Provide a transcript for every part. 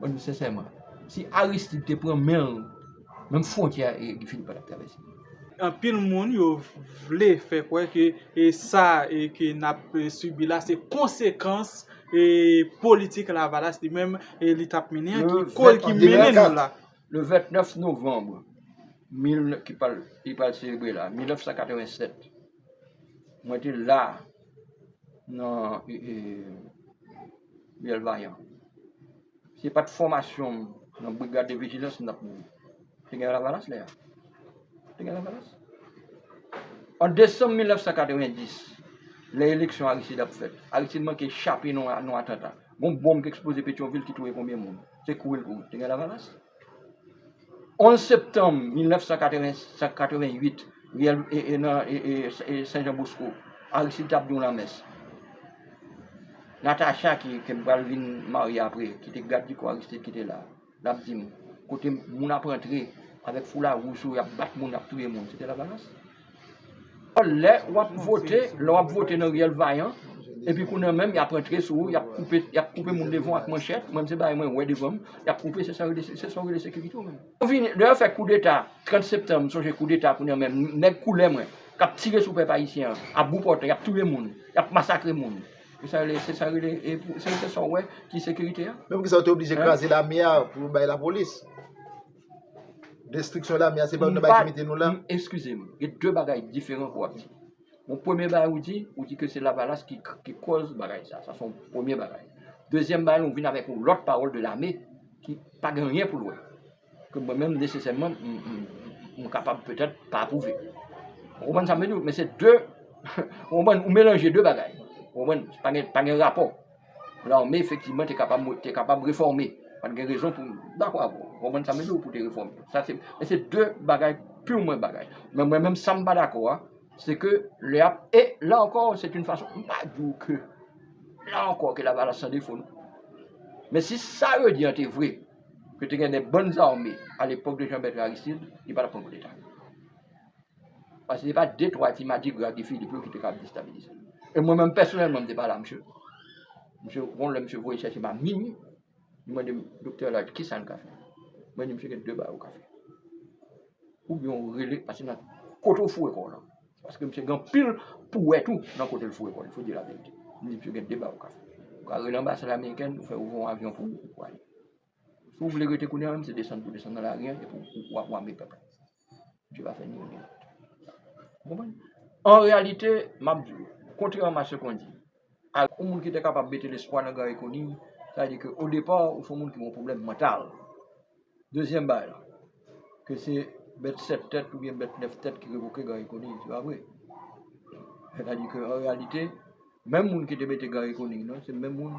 Mwen di sensèman, si Aristide te pran men l, menm fwontyè a Guy Philippe pa t ap travèse. Anpil moun yo vle fè kwè ke sa ke n ap sibi la se konsekans politik Lavalas li menm li t ap mennen an ki koz ki mennen nou la. Le 29 novanm ki pral selebre la, 1987. Mwen te la nan Riyèl Vayan. Se pat fòmasyon m nan Brigad de Vijilans m tap mouri. Te gen Lavalas lè a. Te gen Lavalas. An desanm 1990, lè eleksyon Aristide ap fèt, Aristide manke chape nan yon atanta. Gon bonm ki eksploze Petyonvil ki touye konbyen moun? Se kouri l kouri. Te gen Lavalas. 11 septanm 1988, riyèl Sen Jan Bosko, Aristide t ap gen yon lanmès. Natacha ki te pral vin marye apre, ki te gadjiko Aristide ki te la, l ap di m, kote moun ap antre avèk foula wouj sou yo, y ap bat moun, y ap touye moun, se te Lavalas. Lè wap vote, lè wap vote nan riyèl vayan, epi kounye an menm yap antre sou ou, yap koupe, yap koupe moun devan w ak manchèt, mwen m se bagay mwen wè devan m, yap koupe se sa yo se sa yo rele sekirite ou menm. Ou vini, lè yo fè koudeta 30 septanm, m sonje koudeta kounye an menm, nèg koulè mwen, kap tire sou pèp ayisyen an, a bout pòtay, yap touye moun, yap masakre moun, se sa yo rele, se sa yo rele, se sa w wè ki sekirite a? Men poukisa yo te oblije kraze lame a pou yo bay lapolis? Destriksyon lame a se pa youn nan bagay ki mete nou la? Eskize m, gen de bagay diferan ke w ap di. Bon, premye bagay ou di, ou di ke se Lavalas ki kòz bagay sa. Sa se yon premye bagay. Dezyèm bagay, ou vin avèk yon lòt pawòl de lame ki pa gen anyen pou l wè. Ke mwen menm nesesèman, m kapab petèt pa apwouve. Ou konprann sa m vle di w? Men se de, ou konprann, ou melanje de bagay. Ou konprann? Pa gen rapò. Lame efektivman te kapab mwen te kapab refòme. Pat gen rezon pou mwen dakò avè w. Ou konprann sa m vle di w pou te refòme. Sa se men se de bagay piwman bagay. Men mwen menm sa m pa dakò a se ke lè y ap e la ankò se t yn fason m pa di w ke la ankò ke lavalas san defo non. Men si sa yo di an te vre ke te gen de bann zame alepòk de Jean Bertrand Aristide li pa t ap pran koudeta. Paske se pa de twa ti madigra Guy Philippe yo ki te kab destabilize l. E mwen menm pèsonèlman m te pale ak msye. Msye yon lè msye voye chèche m a minui, li mande m, Doktè Elaire, kisa n ka fè? Mwen di msye gen de bagay ou ka fè. Oubyen ou rele, paske nan kote ou foure kò w lan, paske msye gen anpil pou wè tou nan kote l foure kò l, il faut dire la vérité. M di msye gen de bagay ou ka fè. Ou ka rele anbasad amerikèn, ou fè ouvè yon avyon pou ou, ou ale. Si w vle rete kounye a menm se desann pou desann nan lari an epi w ap wame pèp la. Bondye pa fè ni youn ni lòt. Ou konprann? An reyalite, m ap di w, kontrèman a se kon di, ak yon moun ki te kapab mete lespwa nan Gary Conille, sa vle di ke o depa ou se yon moun ki gen yon pwoblèm mantal. Dezyèm bagay la, ke se bèt 7 tèt oubyen bèt 9 tèt ki revoke Gary Conille, se pa vre. Sètadi ke an reyalite, menm moun ki te mete Gary Conille nan, se menm moun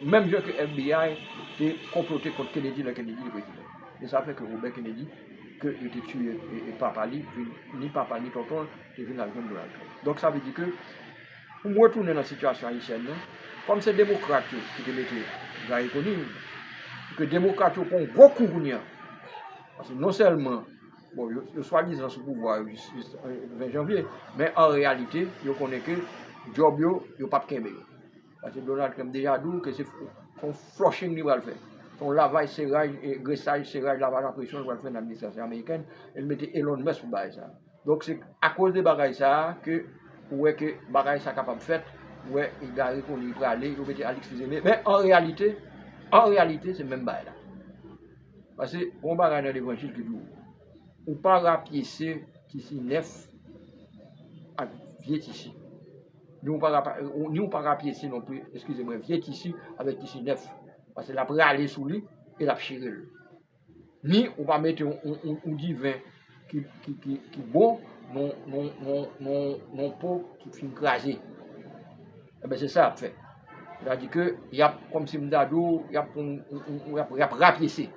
Menm jan ke FBI te konplote kont Kennedy lè Kennedy te prezidan. E sa fè ke Robert Kennedy, ke yo te tiye e papa li, vin, ni papa ni tonton l, te vin al jwenn Donald Trump. Donk sa vle di ke, pou m retounen nan sitiyasyon ayisyèn nan, kòm se demokrat yo ki te mete Garry Conille, e ke demokrat yo pran yon gwo kou kounye a, paske non sèlman, bon, yo swadizan sou pouvwa yo jis 20 janvye, men an reyalite, yo konnen ke djòb yo, yo p ap kenbe yo. Paske Donald Trump deja di w ke se yon flushing li pral fè. Se yon lavaj seraj, gresaj, seraj, lavaj a presyon li pral fè nan administrasyon amerikèn e li mete Elon Musk pou bagay sa a. Donk se akoz de bagay sa a ke ou wè ke bagay sa kapab fèt, ou wè egare kote li prale, yo mete Alix Fils-Aimé. Men an reyalite, an reyalite se menm bagay la. Paske gen yon bagay nan levanjil ki di w, ou pa rapyese tisi nèf ak vye tisi. Ni ou pa ra ni ou pa rapyese non pli, eskize mwen, vye tisi avèk tisi nèf. Pase l ap rale sou li e l ap chire l. Ni ou pa mete yon diven ki bon nan yon po ki fin kraze. Enben se sa y ap fè. Sètadi ke y ap, kòm si m ta di w, y ap pran yon, y ap rapyese.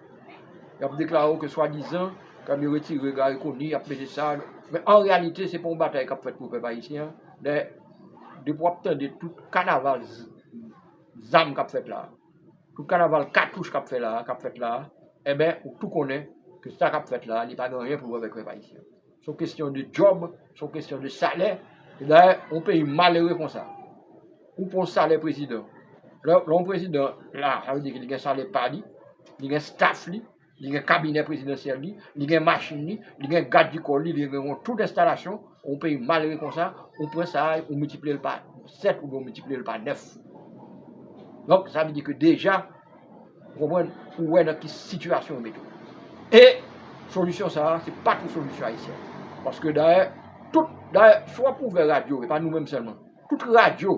Y ap deklare w ke swadizan ke yo retire Gari Koni, y ap mete sa. Men an reyalite se pa yon batay k ap fèt pou pèp ayisyen an. Men, depi w ap tande tout kanaval zam k ap fèt la a, tout kanaval katouch k ap fèt la a, enben, ou tou konnen ke sa k ap fèt la a, li pa gen anyen pou wè avèk pèp ayisyen. Se yon kesyon de djòb, se yon kesyon de salè. E dayè, yon peyi malere konsa, ou pran yon salè prezidan. Lè yon prezidan la, sa vle di ke li gen salè pa li, li gen staff li. Li gen kabinè prezidansyèl li, li gen machin li, li gen gad di kò li, li gen yon tout enstalasyon, yon peyi malere konsa, ou pran sa a, ou miltipliye l pa 7 oubyen ou miltipliye l pa 9. Donk, sa vle di ke deja, ou konprann, ou wè nan ki sitiyasyon yo mete w. E, solisyon sa a, se pa tou solisyon ayisyen. Paske dayè, tout, dayè, si w ap ouvè radyo, e pa nou menm sèlman, tout radyo,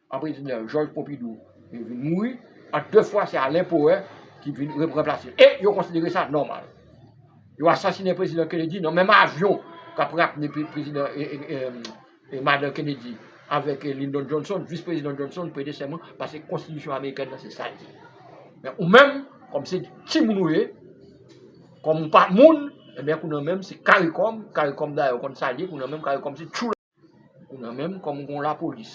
An prezidan Jòj Ponpidou vin mouri, an de fwa se Alen Powè ki vin ranplase l e yo konsidere sa nòmal. Yo asasinen prezidan Kennedy nan menm avyon k ap rapne prezidan madan Kennedy avèk Lindon Johnson, vis prezidan Johnson prete sèman paske konstitisyon amerikèn nan se sa l di. Men ou menm kòm se timoun ou ye, kòm ou pa moun, enben kounye an menm se karikòm, karikòm dayè ou konn sa l ye, kounye an menm karikòm se tchoula. Ou nan menm kòm ou gen yon lapolis,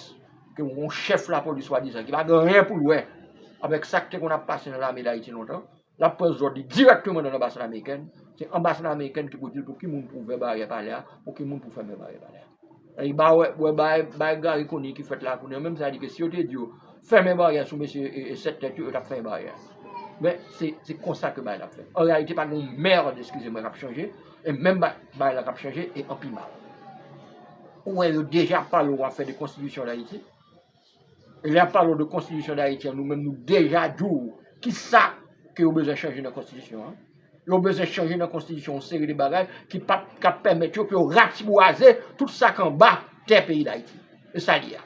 ke ou gen yon chèf lapolis swadizan ki pa gen anyen pou l wè avèk sa k te konn ap pase nan lame Dayiti lontan, l ap pran zòd li dirèkteman nan anbasad amerikèn, se anbasad amerikèn ki pou di l pou ki moun pou ouvè baryè palè a, pou ki moun pou fèmen baryè palè a. Epi ba wè, wè bay, bay Gary Conille ki fèt la a kounye an, menm sa li di ke si yo te di yo fèmen baryè a sou mesye 7 tèt yo, yo t ap fèmen baryè a. Men, se, se konsa ke bagay la ap fèt. An reyalite pa gen yon merd, eskize mwen, k ap chanje. E menm bagay la kap chanje e an pi mal. Ou wè yo deja pale ou wap fè de konstitisyon dayiti. E lè yap pale ou de konstitisyon dayiti an nou menm nou deja di ou ki sa ke yo bezwen chanje nan konstitisyon an. Yo bezwen chanje nan konstitisyon yon seri de bagay ki pap kap pèmèt yo pou yo ratibwaze tout sa k anba tè peyi dayiti. E sa li a.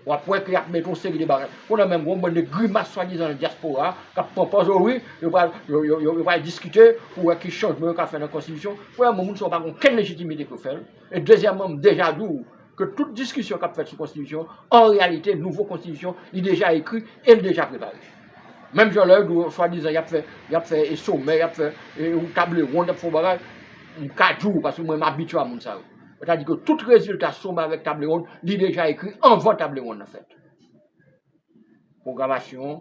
Wap wè ke yap mete yon seri de bagay. Kounye a menm gen yon bann de grimas swadizan nan dyaspora a kap pran pòz o wi, yo pral, yo, yo, yo pral diskite pou wè ki chanjman yo ka fè nan konstitisyon. Premyèman moun sa yo pa gen okenn lejitimite pou yo fè l. E dezyèmman m deja di w ke tout diskisyon kap fèt sou konstitisyon an reyalite nouvo konstitisyon li deja ekri e li deja prepare. Menm jan lè yo di w swadizan yap fè, yap fè somè, yap fè yon table ronde, yap fè yon bagay, m ka di w paske mwen m abitye a moun sa yo. Sètadi ke tout rezilta sou mavèk tablewonn li deja ekri anvan tablewonn nan fèt. Pwogramasyon an,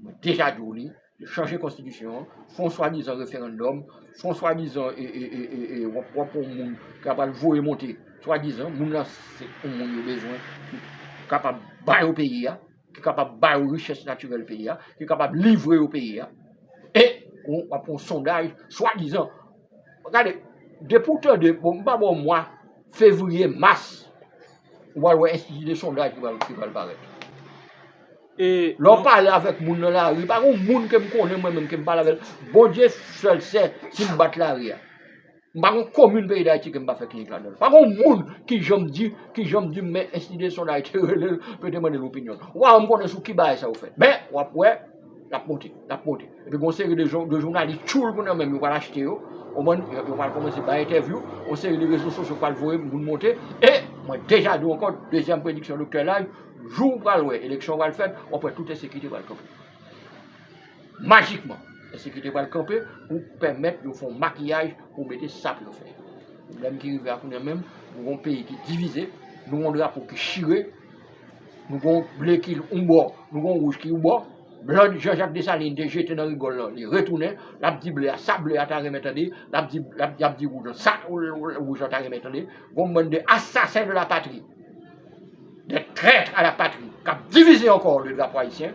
mwen deja di w li, yo chanje konstitisyon an, fè yon swadizan referandòm, fè yon swadizan wap wap pou yon moun ki ap al voye monte, swadizan, moun lan se yon moun yo bezwen pou kapab ba yo peyi a. ki kapab ba yo richès natirèl peyi a, ki kapab livre yo peyi a, e ou ap fè yon sondaj swadizan. Gade, depi ou tande, bon m pa ba w mwa, fevriye, mas, ou pral wè enstiti de sondaj ki pral parèt. Lè w pale avèk moun nan lari, pa gen yon moun ke m konnen mwen menm ke m pale avè l, Bondye sèl sè si m bat lari a. M pa gon komin peyi Dayiti ke m pa fè klinik ladan l. Pa gon moun ki janm di, ki janm di m men Institut de Soins d'Haïti rele l pou yo te mande l opinyon l. Waw m konnen sou ki bagay sa yo fèt. Men, w ap wè, l ap monte, l ap monte. Epi gon seri de jon, de jounalis tchoul pou nan men m yo pral achte yo, konprann, yo pral kòmanse bay entèvyou, yon seri de rezo sosyo pral voye moun monte, e, mwen deja di w ankò, dezyèm prediksyon Doktè Laj, jou w pral wè eleksyon pral fèt, w ap wè tout ensekite pral kanpe. Majikman, ensekirite pral kanpe pou pèmèt yo fè yon makiyaj pou mete sa pou yo fè. Pwoblèm ki rive a kounye a menm, nou gen yon peyi ki divize, nou gen yon drapo ki chire, nou gen yon ble ki yon bò, nou gen yon wouj ki yon bò, blan Jan Jak Desalin te jete nan rigòl lan li retounen, l ap di ble a sa ble a ta renmen tande, l ap di y ap di wouj lan sa wouj lan ta renmen tande. Gen yon bann de asasen de la patri, dè trèt a la patri k ap divize ankò le drapo ayisyen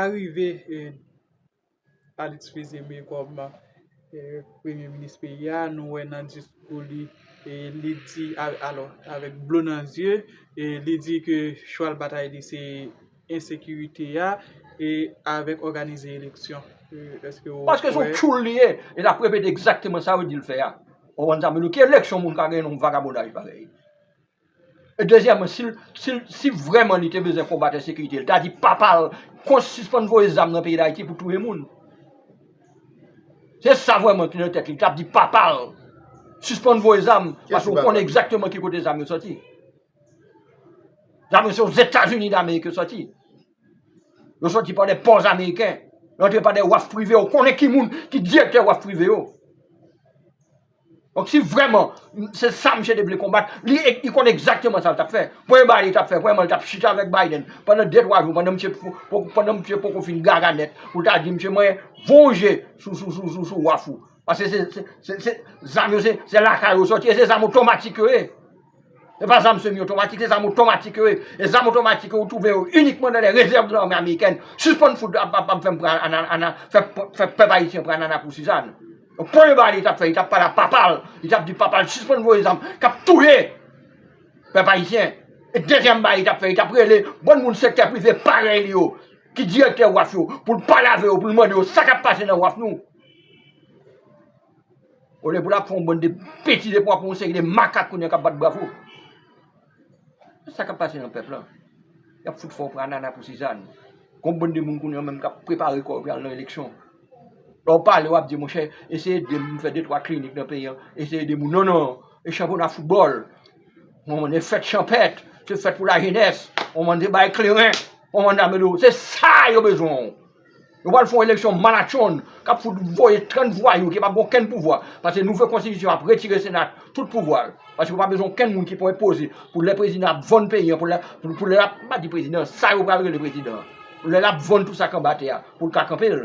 Arive Alix Fils-Aimé kòm premye minis peyi a, nou wè nan diskou li, li di alò, avèk dlo nan zye, li di ke chwal batay li se ensekirite a, e avèk òganize eleksyon. Paske son tchoul li ye, e l ap repete egzakteman sa yo di l fè a. Ou konprann sa? Men nou ki eleksyon moun ka gen yon vagabondaj parèy. E dezyèman, si l, si l, si vrèman li te bezwen konbat ensekirite, li ta di papa l, kont sispann voye zam nan peyi Dayiti pou touye moun. Se sa vrèman ki nan tèt li, li ta di papa l, sispann voye zam, paske ou konnen egzakteman ki kote zam yo soti. Zam yo se Ozetazini Damerik yo soti. Yo soti pa de pòs ameriken, yo antre pa de waf prive, ou konnen ki moun ki direktè waf prive yo. Donk si vrèman se sa misye te vle konbat, li konnen egzakteman sa l t ap fè. Premye bagay li t ap fè, premyèman li t ap chita avèk Biden pandan de twa jou, pandan misye poko fin gaga nèt pou l ta di misye mwen vonje sou waf ou. Paske se zam yo se lakay yo soti e se zam otomatik yo ye. Se pa zam semi otomatik, se zam otomatik yo ye. E zam otomatik yo ou twouve yo inikman nan lè rezèv nan lame amerikèn. Sispann fout ap fè m pran fè pèp ayisyen pran anana pou sizann. Premye bagay li tap fè li tap pale a papal li tap di papal sispann voye zam kap touye pèp ayisyen e dezyèm bagay li tap fè li tap rele bon moun sektè prive parèy li yo ki direktè waf yo poul pale avè yo poul mande yo sa kap pase nan waf nou olye pou lap fè yon bann de betiz epi wap wè yon seri de makak kounye a kap bat bravo. Sa kap pase nan pèp la? Yap fout fè w pran nana pou sizàn. Gon bann de moun kounya menm kap prepare kò yo pou yal nan eleksyon. Lè w pale wap di monchè eseye ede m fè de twa klinik nan peyi an, eseye ede moun. Non non, e chanpyona foutbòl, on mande fèt chanpèt, se fèt pou lajenès, on mande bay kleren, on mande amède. Se sa yo bezwen w. Yo pral fè yon eleksyon malatchonn k ap fout voye 30 vwayou ki pa gen okenn pouvwa. Pase nouvo konstitisyon ap retire sena tout pouvwa l. Pase yo pa bezwen okenn moun ki pou enpoze pou lè prezidan ap vann peyi an pou lè pou lè l ap m pa di prezidan sa yo pral rele prezidan an. Lè l ap vann tout sa k anba tè a pou l ka kanpe l.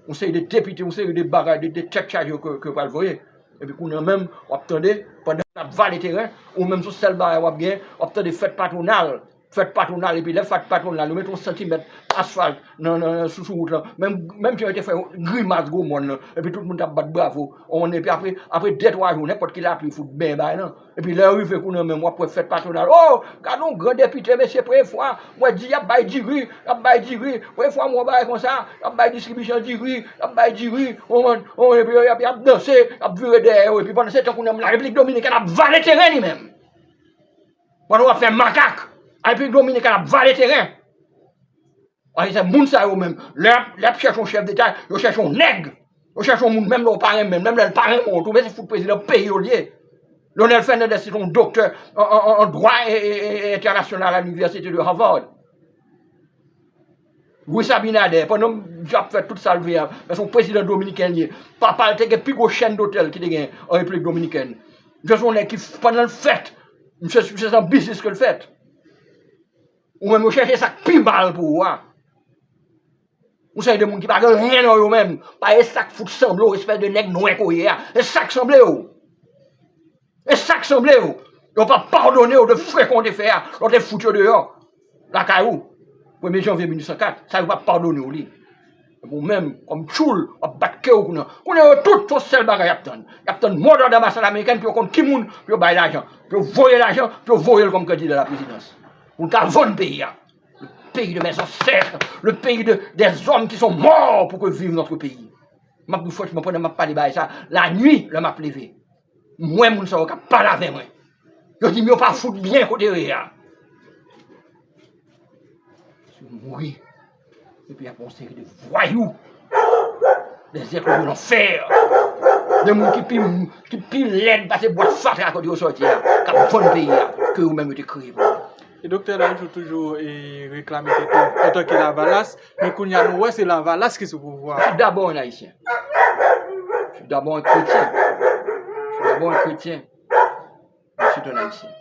Yon seri de depite yon seri de bagay de de tèt chaje yo ke yo pral voye. Epi kounye an menm w ap tande pandan l ap vale teren ou menm son sèl bagay w ap gen w ap tande fèt patwonal fèt patwonal epi lè fèt patwonal yo met yon santimèt asfalt nan sou sou wout lan menm jan yo te fè grimas gwo mòn nan epi tout moun t ap bat bravo on epi apre apre de twa jou nenpòt ki lapli fout ben bay lan epi lè yo rive kou nan menm w ap wè fèt patwonal o gad yon gran depite mesye premye fwa mwen di y ap bay diri y ap bay diri premye fwa m wè yon bagay konsa y ap bay distribisyon diri y ap bay diri on an on epi yo y ap danse y ap vire dèyè yo epi pandan se tan kou nan m larepiblik dominikèn ap vale teren li menm. Pandan wap fè makak. Repiblik Dominikèn ap vale teren. Paske se moun sa yo menm. Lè yap chèche yon chèf deta, yo chèche yon nèg. Yo chèche yon moun menm lè ou pa renmen l, menm lè l pa renmen w tou. Men se fout prezidan peyi yo l ye. Leonel Fernandez se t yon doktè an dwa entènasyonal a Inivèsite de Harvard. Luis Abinader, pandan misye ap fè tout sa l vle a, se yon prezidan dominiken l ye. Papa l te gen pi gwo chèn dotèl ki te gen an Repiblik Dominikèn. Misye se yon nèg ki, pandan l fèt, misye se nan biznis ke l fèt. Ou menm yo chèche sa k pi mal pou ou a. Yon seri de moun ki pa gen anyen nan yo menm, pa e sa k fout sanble w, espès de nèg nwè ke w ye a. Se sa k sanble w. E sak sanble yo, yo pa padonew de frekon w te fè a lè w te fout yo deyò lakay ou premye janvye 1804, sa yo pa padonew li. Epi w menm kòm tchoul wap bat kew kounye an. Kounye yo tout se yon sèl bagay yap tann, yap tann mo dòd anbasad amerikèn pou yo konn ki moun pou yo bay lajan, pou yo voye lajan, pou yo voyel kòm kandida a la prezidans. Pou l ka vann peyi a. Le peyi de mè zansèt, le peyi de dè zòm ki son mò pou ke viv nòtre peyi. Map di w franchman pandan map pale bagay sa, lanwi lè map leve. M wè moun sa yo k ap pale avè mwen. Yo di m yo pa fout byen kote yo ye a. Si yo mouri, epi y ap gen yon seri de vwayou, de zèklò de lanfè, de moun ki pi lèd pase bwa fatra kote yo soti a, k ap vann peyi a, ke yo menm yo te kreye pou yo. E Doktè Lajou toujou reklame tèt li antanke Lavalas. Men kounye a nou wè se lavalas ki sou pouvwa. Tout dabò yon Ayisyen. Tout dabò yon kretyen. Tout dabò yon kretyen. Ansuit yon Ayisyen.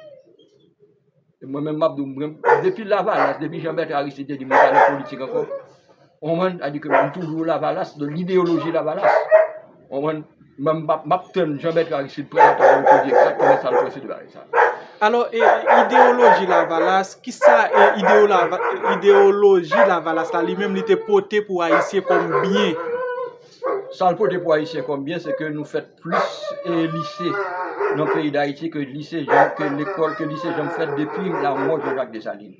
E mwen menm m ap di w, depi lavalas, depi Jean Bertrand Aristide te di mwen pa nan politik ankò, ou konprann? Sa vle di ke m toujou lavalas, lide yo loje lavalas. Konprann? M ap tann Jean Bertrand Aristide pran la pawòl pou l di egzakteman sa l panse de bagay sa a. Alò, e ideyoloji Lavalas, ki sa ideyoloji Lavalas la li menm li te pote pou Ayisyen kòm byen? Sa l pote pou Ayisyen kòm byen se ke nou fèt plis lise nan peyi Dayiti ke lise, ke lekòl, ke lise janm fèt depi lanmò Jean Jacques Dessalines.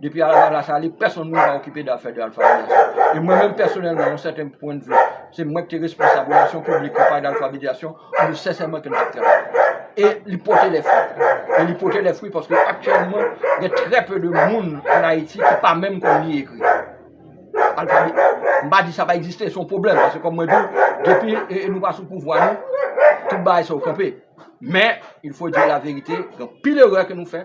Depi al la sali, pèsonn moun pa okipe de afè de Alpha Bidiation. E mwen menm pèsonèlman, yon sèten pwen de vi, se mwen ki te responsab relasyon piblik konpay d'Alpha Bidiation, mwen sensèman ke m tap travay. E li pote lè fwi. E li pote lè fwi paske aktyèlman, gen trè pe de moun an Ayiti ki pa menm konn li ekri. Alpha Bi, m pa di sa pa egziste, se yon pwoblèm, paske kòm mwen di w, depi nou pa sou pouvwa nou, tout bagay sa yo kanpe. Men, il fo di la verite, gen anpil erè ke nou fè.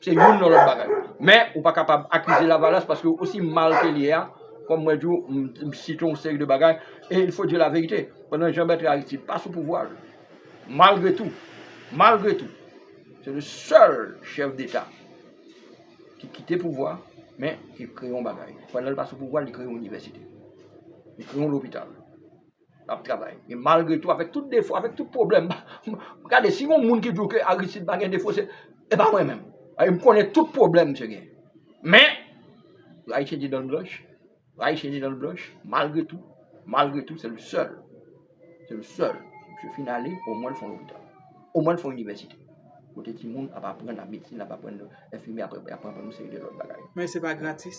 Se youn nan lòt bagay. Men, ou pa kapab akize Lavalas paske osi mal ke l ye a, kòm mwen di w, m site yon seri de bagay, e il faut dire la vérité, pandan Jean Bertrand Aristide pa sou pouvwa l, malgre tou, malgre tou, se le sèl chèf deta ki kite pouvwa, men, ki kreye yon bagay. Pandan l pa sou pouvwa l, li kreye yon inivèsite. Li kreye yon lopital. Nap travay. Men malgre tou avèk tout defo, avèk tout pwoblèm, gade si gon moun ki di w ke Aristide pa gen defo se pa mwen menm. Paske m konnen tout pwoblèm misye gen. Men, Rayisyen gen dan blanch, Rayisyen gen dan blanch, malgre tou, malgre tou se l sèl, se l sèl misye fin ale omwen l fon lopital. Omwen l fon inivèsite. Kote timoun ap aprann ap medsin, ap aprann enfimyè, ap aprann yon seri de lòt bagay. Men se pa gratis.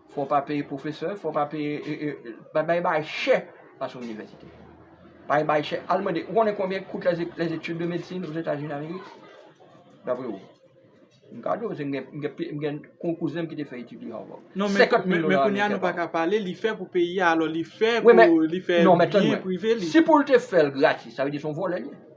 Fò w pa peye pwofesè, fò w pa peye, bagay bay chè pase inivèsite. Bagay bay chè, al mande, ou konnen konbyen kout les études de médecine aux Etats Unis Amerik? Dapre ou? M ka di w, m gen yon kouzen m ki te fè etid li Harvard. 50 mil dola ameriken pa an. Non men kounye a nou pa ka pale, li fè pou peyi a, alò li fè pou li fè byen prive li. Si pou l te fè l gratis, sa vle di son vòlè li.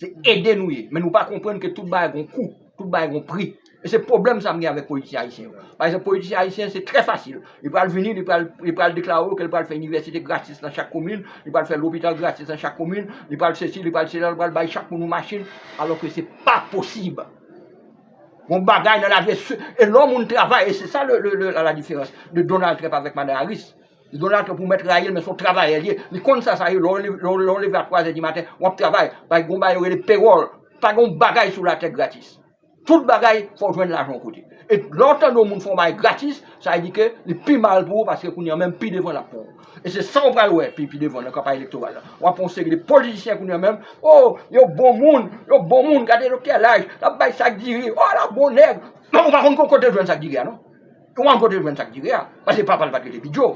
Se ede nou ye, men nou pa konprann ke tout bagay gon kou, tout bagay gon pri. E se pwoblèm sa m gen avèk politisyen ayisyen yo. Pa egzanp, politisyen ayisyen se trè fasil. Li pral vini, li pral, li pral deklare w ke li pral fè inivèsite gratis nan chak komin, li pral fè lopital gratis nan chak komin, li pral sesi, li pral sela, li pral bay chak moun yon machin, alò ke se pa posib. Gon bagay nan lavi e se, e lè yon moun travay, e se sa le, le, le, la la diferans de Donald Trump avèk Madan Harris. Li gen yon nature pou mèt rayi l men se yon travayè li ye, li konn sa sa ye lè w leve a 3 zè di maten w ap travay, gen yon bagay yo rele payroll, pa gen yon bagay sou latè gratis. Tout bagay fò w jwenn lajan yon kote. E lè w tande yon moun fè yon bagay gratis, sa vle di ke li pi mal pou ou paske kounye an menm pi devan l ap pran w. E se sa w pral wè pi pi devan nan kanpay elektoral la. W ap wè yon seri de politisyen kounye an menm, o! yo bon moun, yo bon moun, gade doktè Laj, l ap bay sak diri, o! la bon nèg, men ou pa konn kote l jwenn sak diri a non. Ou pa konn kote l jwenn sa k dire a, paske papa l pa t rele Bidjo,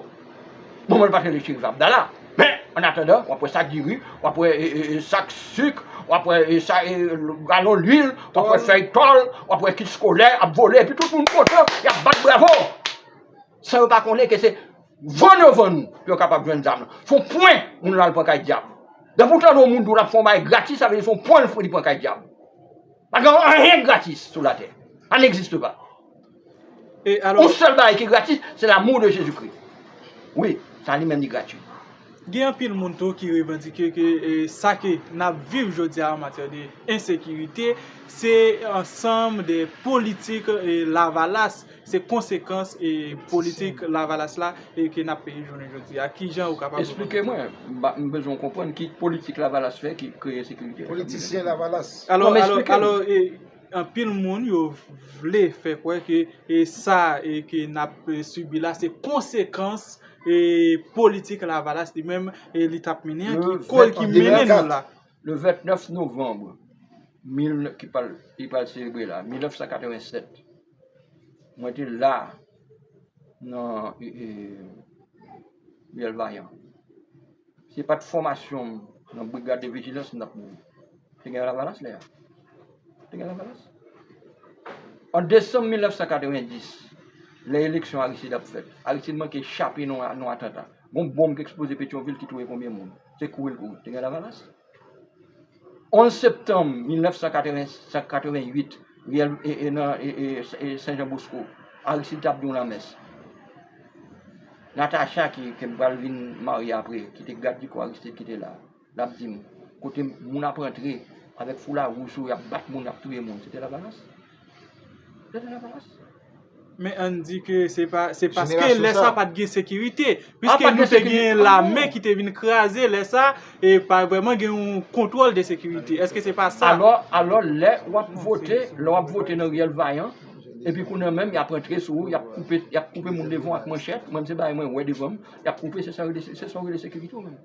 manman l pa t rele Cherife Abdala. Men, ann atandan, w ap wè sak diri, w ap wè sak sik, w ap wè galon luil, w ap wè fèy tòl, w ap wè kit skolè ap vole epi tout moun kontan, y ap bat bravo! San yo pa konnen ke se vann yo vann nou pou yo kapab jwenn zam lan. S on pwen moun lan al pran kay dyab. Depi w tande yon moun di w l ap fè yon bagay gratis, sa vle di se yon pwen li pran kay dyab. Pa gen anyen gratis sou latè. Sa n egziste pa. Yon sèl bagay ki gratis, se l'amour de Jésus Christ. Wi, sa li menm li gratuit. Gen anpil moun tou ki revandike ke sa ke n'ap viv jodi a an matyè de ensekirite, se ansanm de politik lavalas, se konsekans politik lavalas la ke n'ap peye jounen jodi a. Ki jan ou kapab reponn? Esplike mwen, m bezwen konprann ki politik lavalas fè ki kreye ensekirite? Politisyen lavalas. Alò, alò, alò. Anpil moun yo vle fè kwè ke sa ke n ap sibi la se konsekans politik Lavalas li menm li t ap mennen an ki koz ki mennen nou la. Le 29 novanm ki pral selebre la, 1987, mwen te la nan Riyèl Vayan. Se pat fòmasyon m nan brigad de vijilans m tap mouri. Te gen lavalas lè a. Te gen lavalas. An desanm 1990, lè eleksyon Aristide ap fèt, Aristide manke chape nan yon atanta. Gon bonm ki eksploze Petyonvil ki touye konbyen moun? Se kouri l kouri. Te gen lavalas. 11 septanm 1988, riyèl Sen Jan Bosko, Aristide t ap gen yon lanmès. Natacha ki te pral vin marye apre, ki te gaddikò Aristide ki te la, l ap di m, kote moun ap rantre avèk foula wouj sou yo, y ap bat moun, y ap touye moun, se te Lavalas. Se te Lavalas. Men an di ke se pa, se paske lè sa pat gen sekirite. Piske nou te gen lame ki te vin kraze lè sa, e pa vreman gen yon kontwòl de sekirite. Eske se pa sa? Alò, alò lè w ap vote, lè w ap vote nan riyèl vayan, epi kounye an menm y ap antre sou ou, y ap koupe, y ap koupe moun devan w ak manchèt, mwen se bagay mwen wè devan m, y ap koupe, se sa w rele, se sa w rele sekirite ou menm?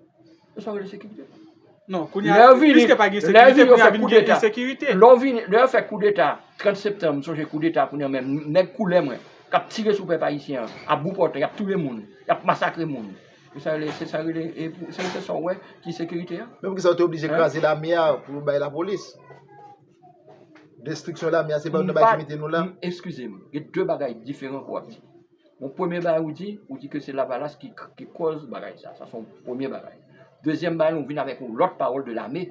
yo fè koudeta 30 septanm, m sonje koudeta kounye an menm, nèg koulè mwen, k ap tire sou pèp ayisyen an, a boupòtè, y ap touye moun, y ap masakre moun. Se sa yo rele, se sa w wè ki sekirite a? Men poukisa yo te oblije kraze lame a pou yo bay lapolis? Destriksyon lame a se pa yo te bay ki mete nou la? Eskize m, gen de bagay diferan ou ap di. Yon premye bagay ou di, ou di ke se lavalas ki ki kòz bagay sa. Sa se yon premye bagay. Dezyèm bagay ou vin avèk yon lòt pawòl de lame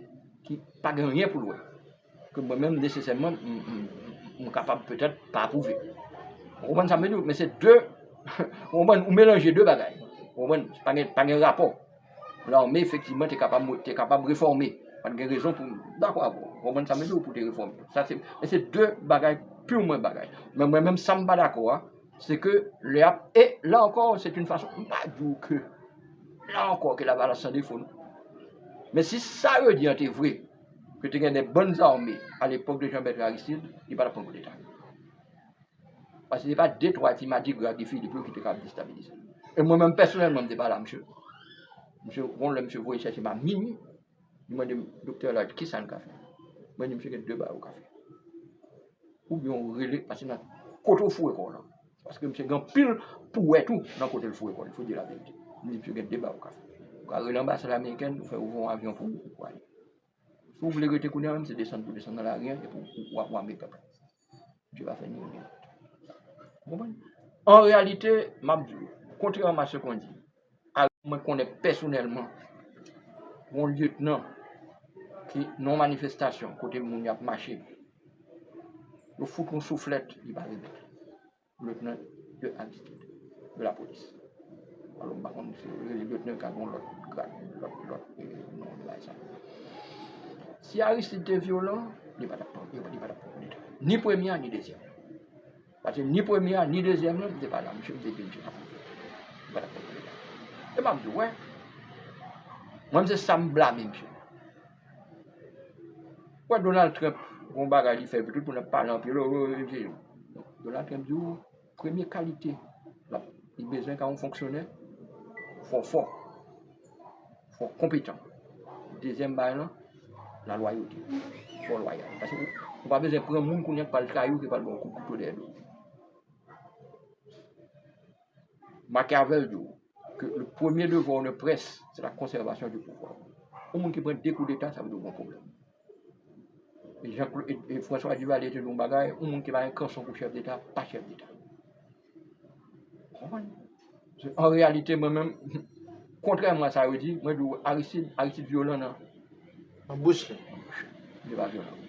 ki pa gen anyen pou l wè. Ke mwen menm nesesèman m m m kapab petèt pa apwouve. Ou konprann sa m vle di w? Men se de ou konprann, ou melanje de bagay. Ou konprann? Pa gen pa gen rapò. Lame efektivman te kapab mwen te kapab refòme. Pa t gen rezon pou m dakò avè w. Ou konprann sa m vle di w pou w te refòme. Sa se men se de bagay purman bagay. Men mwen menm sa m pa dakò a se ke lè y ap e la ankò se t yn fason m pa di w ke la ankò ke Lavalas san defo non. Men si sa yo di an te vre ke te gen de bann zame alepòk de Jean Bertrand Aristide li pa t ap pran koudeta. Paske se pa de twa ti madigra Guy Philippe yo ki te ka ap destabilize l. E mwen menm pèsonèlman m te pale a msye. Msye gon lè msye voye chèche m a minui, li mande m, Doktè Elaire, kisa n ka fè? Mwen di msye gen de bagay ou ka fè. Oubyen ou rele, pase nan kote ou foure kò w lan. Paske msye gen anpil pou wè tou nan kote l foure kò l, il faut dire la vérité. M di msye gen de bagay ou ka fè. Ou ka rele anbasad amerikèn, ou fè ouvè yon avyon pou ou, ou ale. Si w vle rete kounye a menm se desann pou desann nan lari an epi w ap make up. Bondye pa fè ni youn ni lòt. Ou konprann? An reyalite, m ap di w, kontrèman a se kon di, mwen konnen pèsonèlman yon lyetnan ki nan yon manifestasyon kote moun yo ap mache, yo fout yon souflèt li pa remèt. Lieutenant de altitude de la police. Alò m pa konn si yo rele lieutenant ka gen yon lòt grad, lòt lòt non li bay sa. Si Aristide te vyolan, li pa t ap pran, li pa t ap pran koudeta. Ni premye a ni dezyèm nan. Paske ni premye a ni dezyèm nan, m te pale ak misye, m te di misye pa pran koudeta. Li pa t ap pran koudeta. E m ap di w wè, mwen m se sa m blame misye. Ou wè Donald Trump gen yon bagay li fè epi tout moun ap pale anpil o o o se Donald Trump di ou premye kalite lap li bezwen ka yon fonksyonè fò fò, fò konpetan. Dezyèm bagay lan, la lwayote. Fò lwayal. Pase ou pa bezwen pran moun kounye a ki pral trayi ou ki pral ba ou kout kouto dèyè do. Machiavel di w ke le premye devwa w ne près se la konsèvasyon di pouvwa. Yon moun ki pran 2 koudeta sa vle di w gen yon pwoblèm. E François Duvalier te di w yon bagay, yon moun ki pa gen kanson pou chèf deta, pa chèf deta. Ou konprann? An reyalite mwen menm, kontrèman a sa yo di, mwen di w Aristide, Aristide vyolan nan. Nan bouch li. Nan bouch li. Li pa vyolan.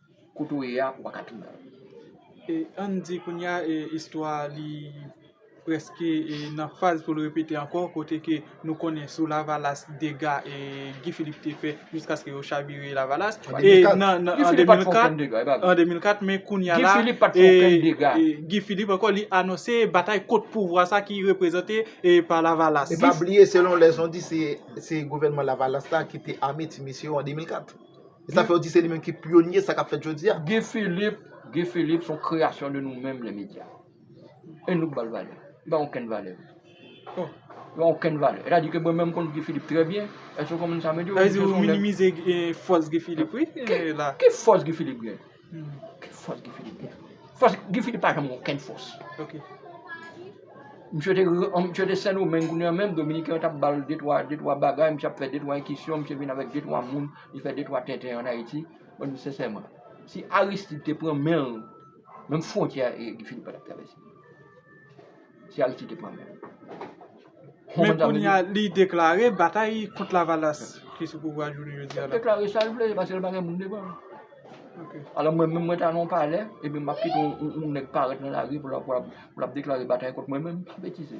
Kote w ye a ou pa ka tounen. E ann di kounye a e istwa li prèske e nan faz pou l repete ankò kote ke nou konnen sou lavalas dega e Guy Philippe te fè jiskaske yo chabire lavalas e nan Guy Philippe pa t fè okenn dega e pa vre an 2004 men kounye a la e Guy Philippe pa t fè okenn dega e Guy Philippe ankò li anonse batay kont pouvwa sa ki reprezante e pa lavalas e pa bliye selon lè jan di se gouvènman lavalas la ki te ame ti mesye yo an 2004. E sa fè w di se li menm ki pyonye sa k ap fèt jodi a? Guy Philippe, Guy Philippe s on kreyasyon de nou menm lemedya. E nou k ba l valè. Li pa gen okenn valè. Li pa gen okenn valè. E ta di ke mwen menm m konn Guy Philippe trè byen. Èske w konprann sa m vle di w? Sa vle di ou minimize fòs Guy Philippe wi la. Ki fòs Guy Philippe gen? Fòs Guy Philippe gen. Fòs Guy Philippe pa janm gen okenn fòs. Ok. Misye te misye te Sendomeng kounye an menm dominiken yo tap bal de twa de twa bagay, misye ap fè de twa enkisyon, misye vin avèk de twa moun, li fè de twa tenten an Ayiti. Mwen di sensèman, si Aristide te pran men l, menm fwontyè a Guy Philippe pa tap travèse. Se Aristide ki pran men l. Men kounye a li deklare batay kont Lavalas ki sou pouvwa jounen jodi a la. Li deklare sa l vle paske l pa gen moun devan l. Alò mwen menm mwen ta nan yon palè epi m ap kite yon nèg parèt nan lari pou l ap deklare batay kont mwen menm? Betize.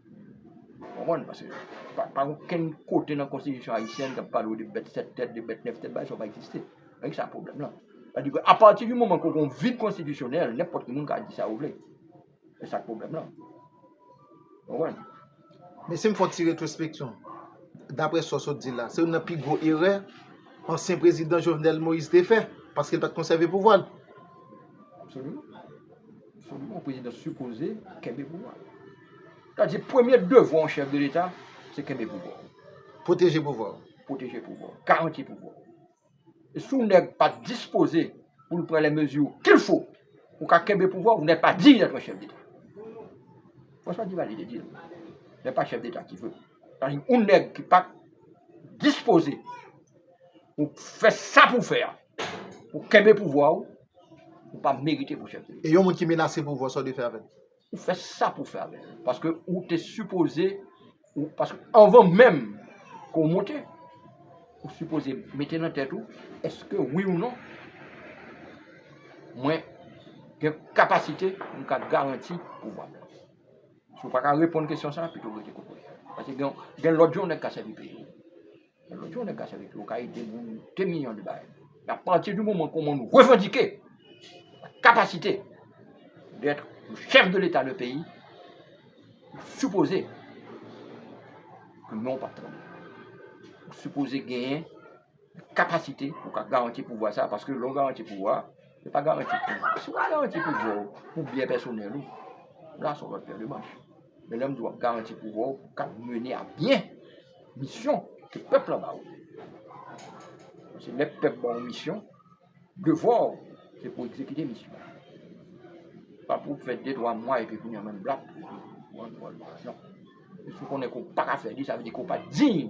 Konprann? Paske pa gen okenn kote nan konstitisyon ayisyèn kap pale w de bèt 7 tèt, de bèt 9 tèt, bagay sa yo pa egziste. Se sak pwoblèm lan. Sa di ke apati di moman ke w gen yon vid konstitisyonèl, nenpòt ki moun ka di sa yo vle. Se sak pwoblèm lan. Konprann? Men si m fè yon ti retrospeksyon, daprè sa w sot di la, se youn nan pi gwo erè ansyen prezidan Jovenel Moïse te fè, paske l pat konsève pouvwa l. Absoliman. Selon mwen prezidan sipoze kenbe pouvwa. Sa di premye devwa yon chèf de leta se kenbe pouvwa. Pwoteje pouvwa. Pwoteje pouvwa. Garanti pouvwa. E si yon nèg pa dispoze pou l pran lè mezi kil fo pou ka kenbe pouvwa, yon nèg pa diy dèt yon chèf deta. Francois Duvalier te di l. Nèg pa chèf deta ki vre. Sa di yon nèg ki pa dispoze pou fè sa pou fè a. Ou kenbe pouvwa ou, ou pa merite pou chèf de. E yon moun ki menase pouvwa sa ou dwe fè avèl? Ou fè sa pou fè avèl. Paske ou te sipoze, paske anvan menm ke ou monte, ou sipoze mete nan tèt ou, eske wi ou non, mwen gen kapasite pou m ka garanti pouvwa m nan. Si ou pa ka reponn kesyon sa, pito ou rete kote ou ye. Paske gen lòt jan nèg ka sèvi peyi. Lè yon nèg ka sèvi piwo ka ede moun de milyon de bagay. Apati di moman ke yon moun revandike la kapasite dèt yon chèf de leta de peyi, li sipoze ke non w pa tande. Ou sipoze genyen kapasite pou w ka garanti pouvwa sa a, paske lè w garanti pouvwa a, se pa garanti pou moun. Si w ap garanti pouvwa w pou byen pèsonèl ou, la se yon lòt pè de manch. Men lè m di w ap garanti pouvwa w pou w ka mennen a byen. Misyon ke pèp la ba ou. Se lè pèp ba ou misyon, devwa ou se pou egzekite misyon an. Pa pou fè de twa mwa epi kounye an menm blap ou antre nan misyon. E si ou konnen ke ou pa ka fè li, sa vle di ke ou pa diy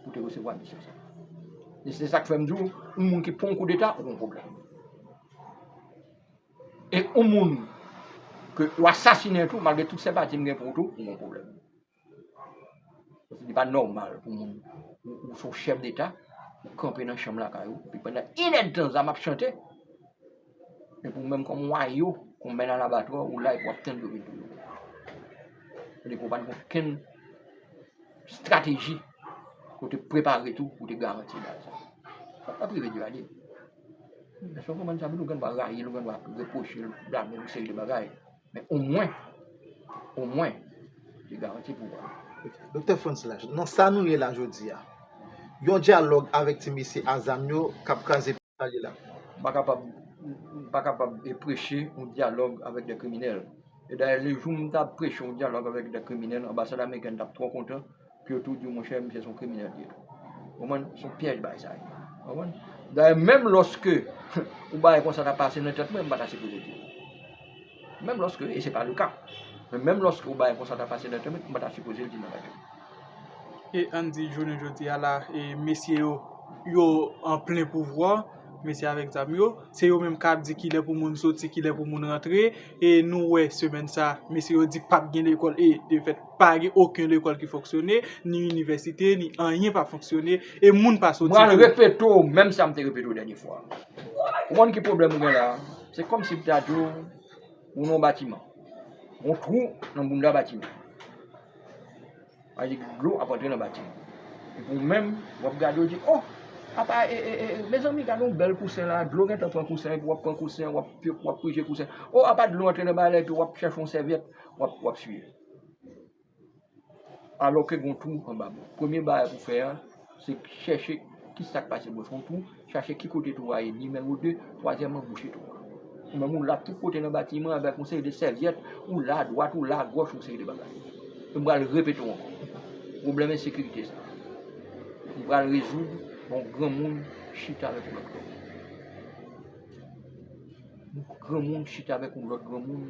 pou te resevwa misyon sa. E se sa k fè m di ou, yon moun ki pou yon koudeta, ou gon pwoblèm. E yon moun ke ou asasinen tou, malgre tout senpati m gen pou ou tou, ou gon pwoblèm. Paske li pa nòmal pou moun, ou se yon chèf deta, ou kanpe nan chanm lakay ou, epi pandan in èdtan zam ap chante, epi ou menm kòm wayo, kòm mèt alabatwa, ou la epi wap tann yo vin touye w. Sa vle di ou pa gen okenn estrateji ke w te prepare tou pou w te garanti baz la. Sa pa prive Duvalier. Èske w konprann sa? Epi nou gen dwa rayi l, nou gen dwa repwoche l, blame l, yon seri de bagay. Men omwen, omwen, yo garanti pou ou. Doktè Frantz Lache, nan sa nou ye la jodi a, yon dyalòg avèk ti mesye a zam yo k ap kraze peyi a li la? M pa kapab, m pa kapab preche yon dyalòg avèk dè kriminèl. E dayè, lejou m ta preche yon dyalòg avèk dè kriminèl, anbasad amerikèn t ap twò kontan. Pou yo tou diw monchè misye son kriminèl li ye tou. Ou konprann? Son pyèj bagay sa ye. Ou konprann? Dayè menm lòske yon bagay konsa ta pase nan tèt mwen, m pa ta sipoze diw. Menm lòske, e se pa le ka. Men menm lòske yon bagay konsa ta pase nan tèt mwen, m pa ta sipozel di nan radyo. E ann di jounen jodi a la, e mesye yo, yo an plen pouvwa, mesye avèk zam yo, se yo menm kap di kilè pou moun soti, kilè pou moun rantre, e nou wè semèn sa, mesye yo di pap gen lekòl e de fèt. Pa gen oken lekòl ki fonksyone, ni inivèsite, ni anyen pa fonksyone, e moun pa soti pou. Mwen repeto w menm sa m te repeto w dènye fwa. Ou konn ki pwoblèm ou gen la? Se kòm si m ta di w, ou nan yon batiman. Yon twou nan bounda batiman. Sa vle di dlo ap antre nan batiman. Epi ou menm, w ap gade, w ap di, o! Apa, e, e, e, mezanmi, gade yon bèl kousen la, dlo gentan pran kousen an, epi w ap pran kousen an, w ap pije kousen an. O! Apa dlo antre nan balè, epi w ap chèche yon sèvyèt, w ap siye. Alò ke gen yon twou anba bò. Premye bagay pou fè a, se chèche ki sa k pase bò. Se yon twou, chache ki kote twou a ye nimewo 2. Twazyèmman, bouche twou a. Ou menm ou lap tout kote nan batiman an avèk yon seri de sèvyèt, ou la adwat, ou la agòch, yon seri de bagay. E m pral repete w ankò, pwoblèm ensekirite sa a, m pral rezoud lè yon granmoun chita avèk yon lòt granmoun. Yon granmoun chita avèk yon lòt granmoun.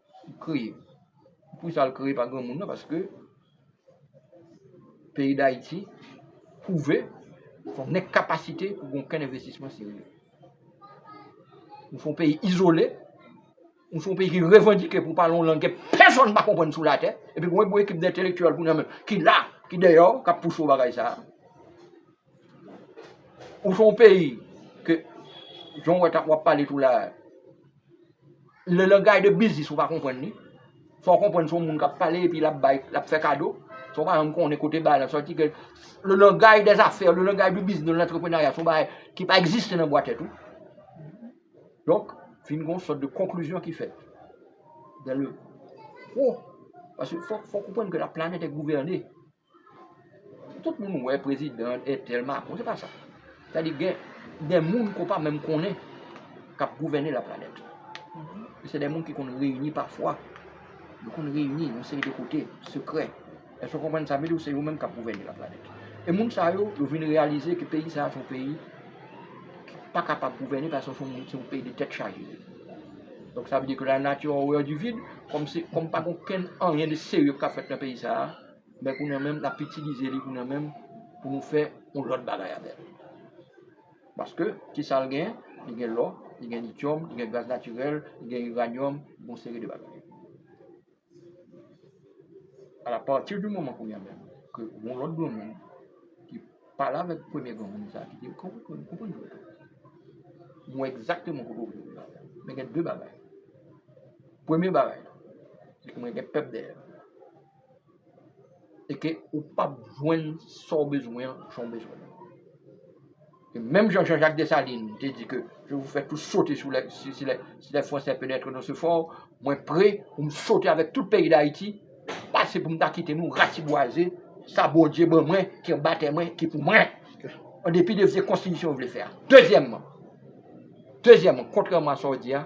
kreye. Pou sa l kreye pa granmoun nan paske peyi Dayiti pwouve son enkapasite pou gen okenn envestisman serye. Nou son peyi izole, nou son peyi ki revandike pou pale yon lang ke pèsonn pa konprann sou latè, epi pou yon gwo ekip dentelektiyèl kounye an menm ki la, ki deyò, k ap pouse yon bagay sa a. Nou son peyi ke jan w ap pale tou la a. Le langay de biznis ou pa konprann li, fò w konprann se yon moun k ap pale epi l ap bay, l ap fè kado, san w pa janm konnen kote bal la sòti ke le langay dè zafè, le langay di biznis, de lantreprenerya se yon bagay ki pa egziste nan bwa tèt ou. Donk, fin gen yon sòt de konklizyon ki fèt. Dan le, o, paske fò w konprann ke la planèt è gouvène. Tout moun wè prezidan entèl Macron, se pa sa. Sa di gen dè moun ko pa menm konnen kap gouvène la planèt. E se dè moun ki konn reyini pa fwa, yo konn reyini yon seri de kote, sekrè. Èske w konprann sa m vle di w, se yo menm kap gouvène la planèt. E moun sa yo, yo vin reyalize ke peyi sa a se yon peyi ki pa kapab gouvène paske se yon peyi de tèt chaje. Donk sa vle di ke la nati a òrèr di vid, kòm se, kòm pa gen okenn anyen de serye kap fèt nan peyi sa a. men kounye an menm l ap itilize li kounye an menm pou nou fè yon lòt bagay avè l. Paske, ki sa l gen? Li gen lò, li gen lityòm, li gen gaz natirèl, li gen iranyòm, yon seri de bagay. Ala pati di moman kounye an menm ke yon lòt granmoun ki pale avèk premye granmoun sa a ki di, Konprann mwen, konprann mwen. M wè egzakteman kote w vle rive avè m. Men gen de bagay. Premye bagay, se ke mwen gen pèp dèyè m. e ke ou pap jwenn sa w bezwen an jan w bezwen l. E menm jan Jean-Jacques Dessalines te di ke je vous fais tous sauter si les Français penetrent dans ce fort, mwen pre pou m sote avèk tout peyi Dayiti pase pou m ta kite nou ratibwaze sa Bondye ban mwen ki anba tè mwen, ki pou mwen. An depi de vye konstitisyon yo vle fè a. Dezyèmman, dezyèman, kontrèman a sa w di a,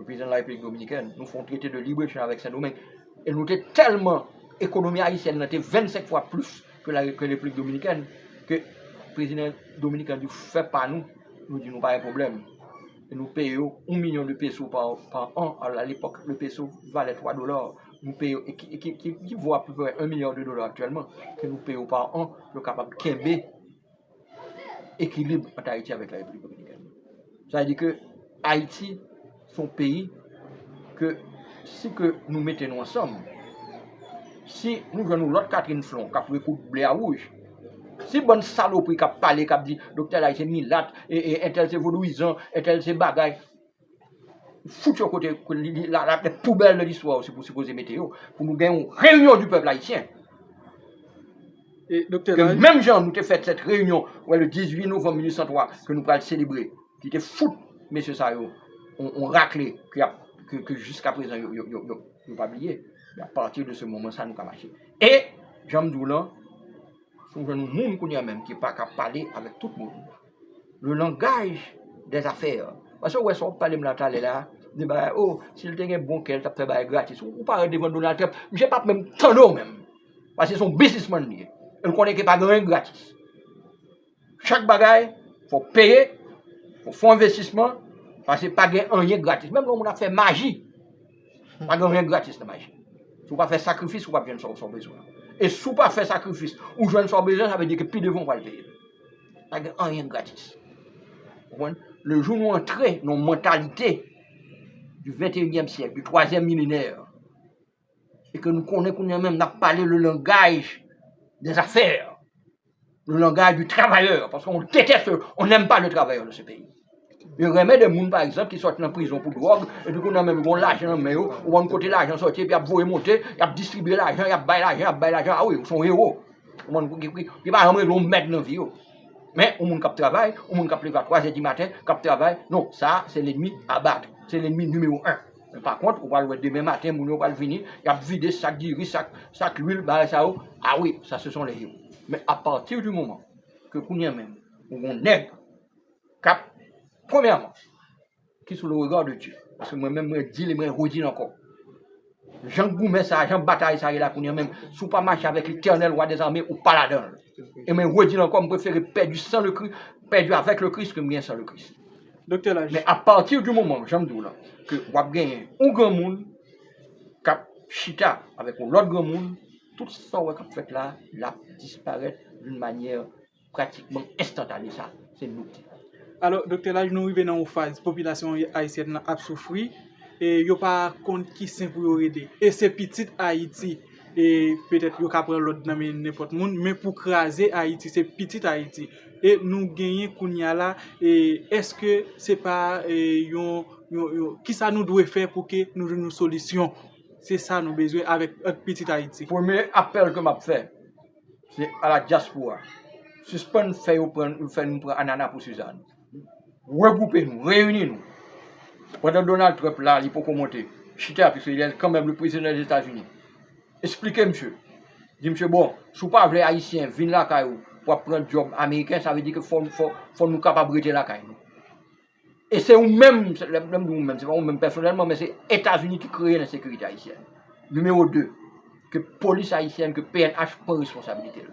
Reprezan la Repiblik Dominikèn, nou fè yon trete de libre echanj avèk Sendomeng, e nou te tèlman, ekonomi ayisyèn nan te 25 fwa plis ke la Repiblik Dominikèn, ke prezidan Dominik la di fè pa nou, nou di nou pa gen pwoblèm, e nou peye yo 1 milyon de peso pa an, a lepòk le peso valè 3 dola, nou peye yo, ki vo apeprè 1 milya de dola aktyèlman, ke nou peye yo pa an, pou yo kapab kenbe. ekilib ant Ayiti avèk la Repiblik Dominikèn. Sa vle di ke Ayiti se yon peyi ke si ke nou mete nou ansanm, si nou jwenn yon lòt Catherine Flon k ap rekoud ble a wouj, si bann salopri k ap pale, k ap di Doktè Lai se milat, entèl se vodouyizan, entèl se bagay, Fout yo kote la tèt poubèl de listwa ou pou sipoze mete yo pou nou gen yon reyinyon di pèp ayisyen. Ke menm jan nou te fè tèt reyinyon wè le 18 novem 1803 ke nou pral selebre ki te fout mesye sa yo yon rakle ke jiska prezan yo pa bliye. A pati de se moman sa nou ka mache. E janm di w lan, foun gen yon moun kounye a menm ki pa ka pale avèk tout moun. le langaj dè zafè. Pase ou wè sa wap pale m la talè la, de bagay oh si l te gen bon kè l tap fè bagay gratis. Ou parèt devan Donald Trump, misye pap menm tande w menm. Pase se yon biznismann li ye. E l konnen ke pa gen anyen gratis. Chak bagay fò w peye, fò w fè envestisman, pase pa gen anyen gratis. Menm lè yon moun ap fè maji. Pa gen anyen gratis nan maji. Si w pa fè sakrifis, ou pap jwenn sa w bezwen an. E si w pa fè sakrifis, ou jwenn sa w bezwen, sa vle di ke pi devan ou pral peye l. Pa gen anyen gratis. Ou konprann? Lejou nou antre nan yon mantalite di venteyinyèm syèk, di twazyèm milenè, e ke nou konnen kounye a menm, n ap pale le langaj dè zafè. le langaj di travayè, paske on detès, on nèm pa le travayè nan se peyi. Yo renmen de moun, pa egzanp, ki sòt nan prizon pou dwòg, epi kou nan menm yon lajan nan men yo, ou bann kote lajan sòti, epi ap voye monte, ap distribye lajan, ap bay lajan, ap bay lajan, a wi, ou son ewo. Ou bann kou ki pri, ki pa anmre yon mèd nan vi yo. Men, ou moun kap travay, ou moun kap leve a 3 zè di maten, kap travay, non, sa, se lènmi abat, se lènmi nimewo 1. Men pa kont, ou pral wè demen maten moun yo pral vini, y ap vide sak diri, sak lwil, bagay sa yo, a wi, sa se son lè yo. Men apati di moman ke kounye a menm, ou gon nèg k ap, premyèman, ki sou le rega de Dye, paske mwen menm mwen di li, mwen redi l ankò, jan goumen sa a, jan batay sa a ye la kounye a menm, si w pa mache avèk letènèl wa dezame, ou pa ladan l. E mwen redi l ankò, m prefere pèdi san le Kris, pèdi avèk le Kris ke m gen san le Kris. Doktè laj. Men a pati di moman, jan m di w la, ke w ap genyen yon granmoun k ap chita avèk yon lòt granmoun, tout sa w wè k ap fèt la, l ap disparèt doun manyè pratikman enstantane. Sa, se nou k di sa. Alò, Doktè Laj, nou rive nan yon faz popilasyon ayisyèn nan ap soufri e yo pa konn ki sen pou yo rele. E se pitit Ayiti. E petèt yo ka pran lòd nan men nenpòt moun, men pou kraze Ayiti, se pitit Ayiti. e nou genyen kounya la e eske se pa yon kisa nou dwe fè pou ke nou jwenn yon solisyon se sa nou bezwen avèk pitit ayiti. Premye apèl ke map fè se a la diaspora sispann fè yo pran nou fè nou pran anana pou sizann regroupe nou reyini nou pandan Donald Trump la li poko monte chita piske lè kanmèm le prezidan dèzetazini Esplike misye. Di misye bon, si w pa vle ayisyen vin lakay ou pou ap pran dyòb ameriken sa vle di ke fò nou kapab rete lakay nou. E se ou menm, lè m di ou menm se pa ou menm pèsonèlman men se Etazini ki kreye lensekirite ayisyèn. Nimewo 2, ke polis ayisyèn, ke pnh pran responsabilite l.